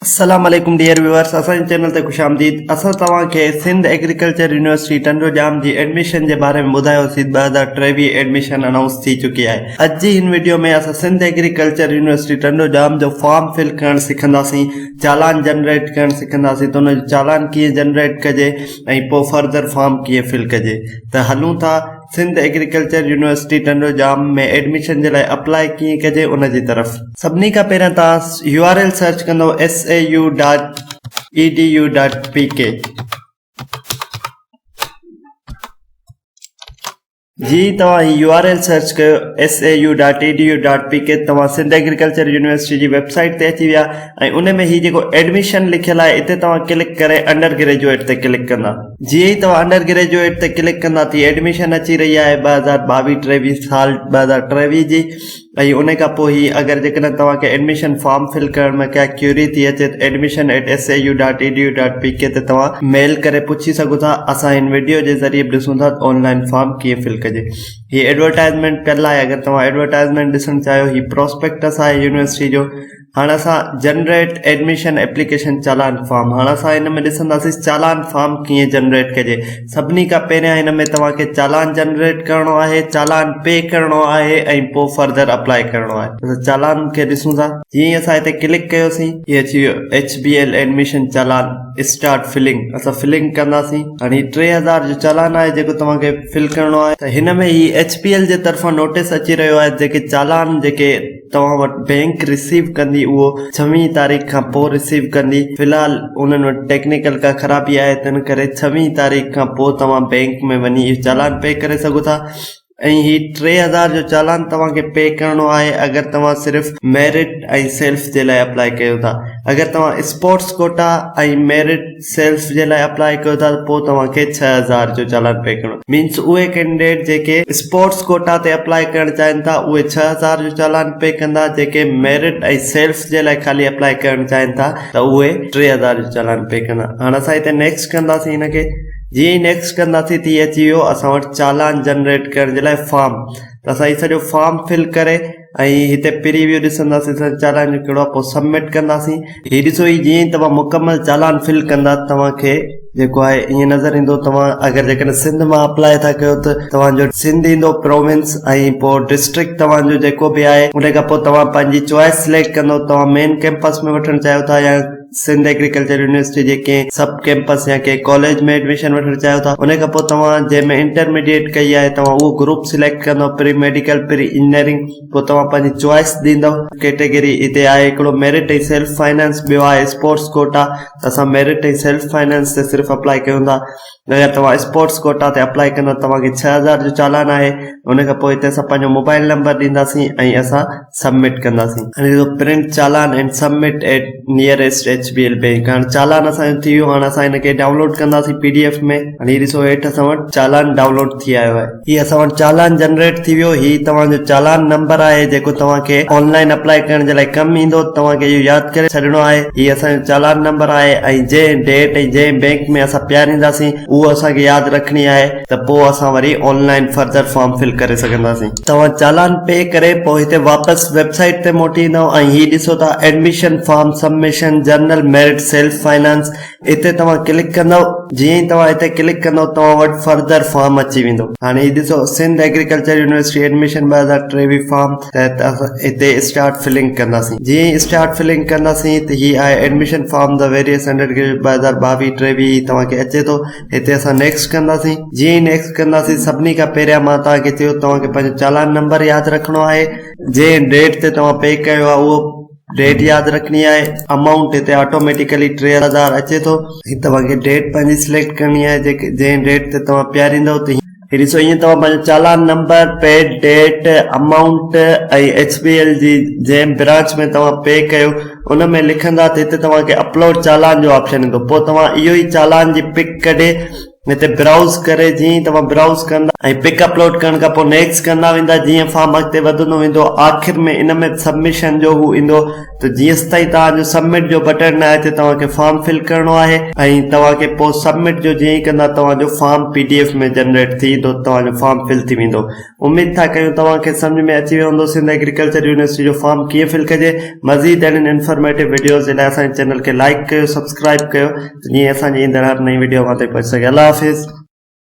السلام عليڪم dear viewers اسان جي چينل تي خوش آمديد اسان توهان کي سنڌ ايگريڪلچر يونيورسٽي ٽنڊو ڄام جي ايڊميشن جي باري ۾ ٻڌايو سي ٻه هزار ٽيويهه ايڊميشن انائونس ٿي چڪي آهي اڄ جي هن ويڊيو ۾ اسان سنڌ ايگريڪلچر يونيورسٽي ٽنڊو ڄام جو فارم فل ڪرڻ سکنداسين چالان جنريٽ ڪرڻ سکنداسين ته ان جو چالان ڪيئن جنريٽ ڪجي ۽ پوء فردر فارم ڪيئن فل ڪجي ته هلون ٿا Sindh agriculture university Tando Jam ۾ admission جي لاء اپلاء ڪيئن ڪجي ان جي طرف. سڀني کان پهريان توهان يو آر ايل سرچ ڪندو S A U dot E D U dot P K جي توهان هي يو آر ايل سرچ ڪيو S A U dot E D U dot P K توهان سنڌ ايگريڪلچر يونيورسٽي جي ويب سائيٽ تي اچي ويا ۽ ان ۾ هي جيڪو Admission لکيل آهي اتي توهان ڪلڪ ڪري انڊر گريجوئيٽ تي ڪلڪ ڪندا. جيئن ئي توهان انڊر گريجوئيٽ تي ڪلڪ ڪندا تيئن Admission اچي رهي آهي ٻه هزار ٻاويهه ٽيويهه سال ٻه هزار ٽيويهه جي ۽ ان کان پوء هي اگر جيڪڏهن توهان کي Admission فارم فل ڪرڻ ۾ ڪا ڪيوري ٿي اچي ته Admission at SAU dot edu dot pk تي توهان ميل ڪري پڇي سگهو ٿا اسان هن وڊيو جي ذريعي به ڏسون ٿا ته آن لائن فارم ڪيئن فل ڪجي هي Advertisement پيل آهي اگر توهان Advertisement ڏسڻ چاهيو هي Prospectus آهي يونيورسٽي جو هاڻ اسان generate admission application challan form هاڻ اسان هن ۾ ڏسنداسي چالان فارم ڪيئن جنريٽ ڪجي سڀني کان پهريان هن ۾ توهان کي چالان جنريٽ ڪرڻو آهي چالان پي ڪرڻو آهي ۽ پوء فرڌر اپلاء ڪرڻو آهي اسان چالان کي ڏسون ٿا جيئن ئي اسان هتي ڪلڪ ڪيوسين هي اچي ويو H B L admission challan start filling اسان فلنگ ڪنداسين هاڻ هي ٽي هزار جو چالان آهي جيڪو توهان کي فل ڪرڻو آهي ته هن ۾ هي ايڇ بي ايل جي طرفان نوٽيس اچي رهيو آهي جيڪي چالان جيڪي توهان وٽ بئنڪ رسيو ڪندي اهو ڇويهين تاريخ کان پوء رسيو ڪندي في الحال انهن وٽ ٽيڪنيڪل ڪا خرابي آهي تنهن ڪري ڇويهين تاريخ کان پوء توهان بئنڪ ۾ وڃي اهو چالان پي ڪري سگهو ٿا ۽ هي ٽي هزار جو چالان توهان کي پي ڪرڻو آهي اگر توهان صرف ميرٽ ۽ سيلف جي لاء اپلائي ڪيو ٿا اگر توهان اسپورٽس ڪوٽا ۽ ميرٽ سيلز جي لاء اپلاء ڪيو ٿا ته پوء توهان کي ڇهه هزار جو چالان پي ڪرڻو پوندو مينس اهي ڪينڊيڊيٽ جيڪي اسپورٽس ڪوٽا تي اپلاء ڪرڻ چاهين ٿا اهي ڇهه هزار جو چالان پي ڪندا جيڪي ميرٽ ۽ سيلز جي لاء خالي اپلاء ڪرڻ چاهين ٿا ته اهي ٽي هزار جو چالان پي ڪندا هاڻ اسان هتي نيڪسٽ ڪنداسين هن کي جيئن ئي نيڪسٽ ڪنداسين ته هي اچي ويو اسان وٽ چالان جنريٽ ڪرڻ جي لاء فارم ته اسان هي سڄو فارم فل ڪري ۽ هتي پريويو ڏسنداسين سر چالان جو ڪهڙو آهي پوء سبمٽ ڪنداسين هي ڏسو هي جيئن توهان مڪمل چالان فل ڪندا توهان کي جيڪو آهي ائين نظر ايندو توهان اگر جيڪڏهن سنڌ مان اپلاء ٿا ڪيو ته توهان جو سنڌ ايندو پروونس ۽ پوء ڊسٽرڪٽ توهان جو جيڪو به آهي ان کان پوء توهان پنهنجي چوائس سليڪٽ ڪندو توهان مين ڪيمپس ۾ وٺڻ چاهيو ٿا يا سنڌ ايگريڪلچر يونيورسٽي جي ڪنهن سب ڪيمپس يا ڪنهن ڪاليج ۾ ايڊميشن وٺڻ چاهيو ٿا ان کان پوء توهان جنهن ۾ انٽرميڊيٽ ڪئي آهي توهان اهو گروپ سليڪٽ ڪندو پري ميڊيڪل پري انجنيئرنگ پوء توهان پنهنجي چوائس ڏيندو ڪيٽيگري هتي آهي هڪڙو ميرٽ ۽ سيلف فنانس ٻيو آهي اسپورٽس ڪوٽا ته اسان ميرٽ ۽ سيلف فنانس تي صرف اپلائي ڪيون ٿا اگر توهان اسپورٽس ڪوٽا تي اپلائي ڪندا ته توهان کي ڇهه هزار جو چالان آهي ان کان پوء هتي اسان پنهنجو موبائل نمبر ڏينداسين ۽ اسان سبمٽ ڪنداسين. هاڻي ڏسو print challan and submit at nearest H B L bank هاڻي چالان اسان جو ٿي ويو هاڻي اسان هن کي ڊائونلوڊ ڪنداسين پي ڊي ايف ۾ هاڻي هي ڏسو هيٺ اسان وٽ چالان ڊائونلوڊ ٿي آيو آهي. هي اسان وٽ چالان جنريٽ ٿي ويو هي توهان جو چالان نمبر آهي جيڪو توهان کي آن لائن اپلائي ڪرڻ جي لاء ڪم ايندو توهان کي اهو ياد ڪري ڇڏڻو آهي هي اسان جو چالان نمبر آهي ۽ جنهن ڊيٽ ۽ جنهن بينڪ ۾ اسان پيارينداسين اهو اسان کي ياد رکڻي آهي ته پوء اسان وري online further form fill ڪري سگهنداسين. توهان چالان پي ڪري پوء هتي واپس ويب سائيٽ تي موٽي ايندائون ۽ هي ڏسو ته admission form submission general merit self finance اتي توهان ڪلڪ ڪندؤ جيئن ئي توهان اتي ڪلڪ ڪندؤ توهان وٽ فردر فارم اچي ويندو هاڻي هي ڏسو سنڌ ايگريڪلچر يونيورسٽي ايڊميشن ٻه هزار ٽيويهه فارم تحت اسان هتي اسٽارٽ فلنگ ڪنداسين جيئن ئي اسٽارٽ فلنگ ڪنداسين ته هي آهي admission form the various undergraduate ٻه هزار ٻاويهه ٽيويهه هي توهان کي اچي ٿو هتي اسان نيڪسٽ ڪنداسين جيئن ئي نيڪسٽ ڪنداسين سڀني کان پهريان مان توهان کي چيو توهان کي پنهنجو چالان نمبر ياد رکڻو آهي جنهن ڊيٽ تي توهان پي ڪيو آهي اهو ڊيٽ ياد رکڻي آهي امائونٽ هتي آٽوميٽيڪلي ٽي هزار اچي ٿو هي توهان کي ڊيٽ پنهنجي سليڪٽ ڪرڻي آهي جيڪي جنهن ڊيٽ تي توهان پياريندو ته هي ڏسو ائين توهان پنهنجو challan number paid date amount ۽ H B L جي جنهن برانچ ۾ توهان پي ڪيو ان ۾ لکندا ته هتي توهان کي اپلوڊ چالان جو آپشن ايندو پوء توهان اهو ئي چالان جي پڪ ڪڍي هتي برائوز ڪري جيئن ئي توهان برائوز ڪندا ۽ پڪ اپلوڊ ڪرڻ کان پوء نيڪسٽ ڪندا ويندا جيئن فارم اڳتي وڌندو ويندو آخر ۾ ان ۾ سبمشن جو هو ايندو ته جيستائين توهان جو سبمٽ جو بٽڻ نه اچي توهان کي فارم فل ڪرڻو آهي ۽ توهان کي پوء سبمٽ جو جيئن ئي ڪندا توهان جو form P D F ۾ generate ٿي ايندو توهان جو فارم فل ٿي ويندو اميد ٿا ڪيون توهان کي سمجهه ۾ اچي ويو هوندو سنڌ ايگريڪلچر يونيورسٽي جو فارم ڪيئن فل ڪجي مزيد اهڙين انفارميٽو وڊيوز جي لاء اسان جي چينل کي لائيڪ ڪيو سبسڪرائيب ڪيو ته جيئن اسان جي ايندڙ هر نئين وڊيو اوهان تائين پهچي سگهي الله حافظ